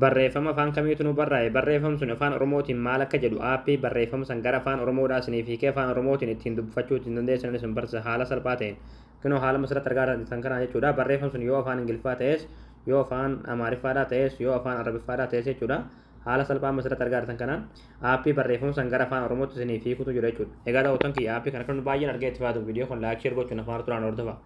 Barreeffama afaan kamiitu nuu barraa'e? Barreefam suni afaan oromootiin maal akka jedhu app barreeffama san gara afaan oromoodhaa isiniif hiikee afaan oromootiin ittiin dubbifachuu ittiin dandeessanan isin barsiisa haala salphaa ta'een. Kinoo haala masirratti argaa jirtan kanaan jechuudha. Barreeffam sun yoo afaan ingiliffaa ta'es yoo afaan amaariffaadhaa ta'es yoo afaan arabiffaadhaa ta'es jechuudha. Haala salphaa masirratti argaa jirtan kanaan app barreeffama san gara afaan oromootti isiniif hiikutu jira jechuudha. Egaa daawwattoon kiyya app kana kan baay'een argee itti fayyadamu viidiyoo kun laayik sheer gochuun afaan turaan hordofa.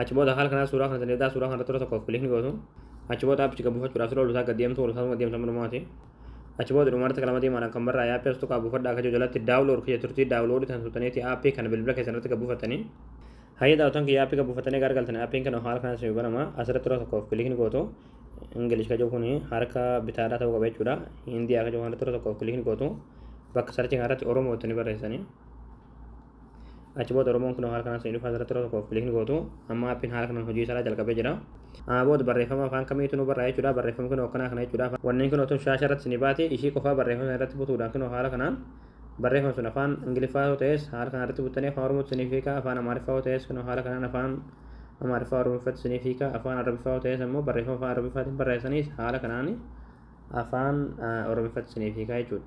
Achi booda haala kanaan suuraa kana daleedaa suuraa kana toora tokkoof kilikni gootu. Achi booda appichi buufachuudhaaf siroo lusaa gad deemtu lusaa suma deemsa mudumaati. Achi booda dhumarratti kalama diimaadhaan kan barraa'e appii as tuqaa buufadhaa akka jiru jalatti daawulood kiyya turtii daawuloodii tan tuqxaniiti appii kana bilbila keessan irratti gad buufattanii. Hayyee daawwatan kiyya appii gad buufattanii egaa argaltan appiin kana haala kanaan isin banama asirratti toora tokkoof kilikni gootu. Ingilish kan jiru kun harka bitaadhaa ta'uu qaba jechuudha. Hindiyaa kan jiru kana toora tokkoof kilikni gootu. Bakka sarchii kanarratti Oromoo itti ni barreessanii. achi booda oromoon kun haala kanaan seenuuf asirratti yeroo tokkoof kiliikni gootu amma appiin haala kanaan hojii isaa jalqabee jira. Booda barreeffama afaan kamiitu nu barraa jechuudha barreeffama kunoo akkanaa kana jechuudha wanneen kunoo tun shaasha irratti ni baati ishii qofaa barreeffama sana irratti butuudhaan kunoo haala kanaan barreeffama sun afaan ingiliffaa yoo ta'es haala kanaan irratti buttanii afaan oromootti siniif hiika afaan amaariffaa yoo ta'es kunoo haala kanaan afaan amaariffaa oromiffatti siniif hiika afaan arabiffaa yoo ta'es ammoo barreeffama afaan arabiffaatiin barreessaniis haala kanaan afaan oromiffatti siniif hiika jechuudha.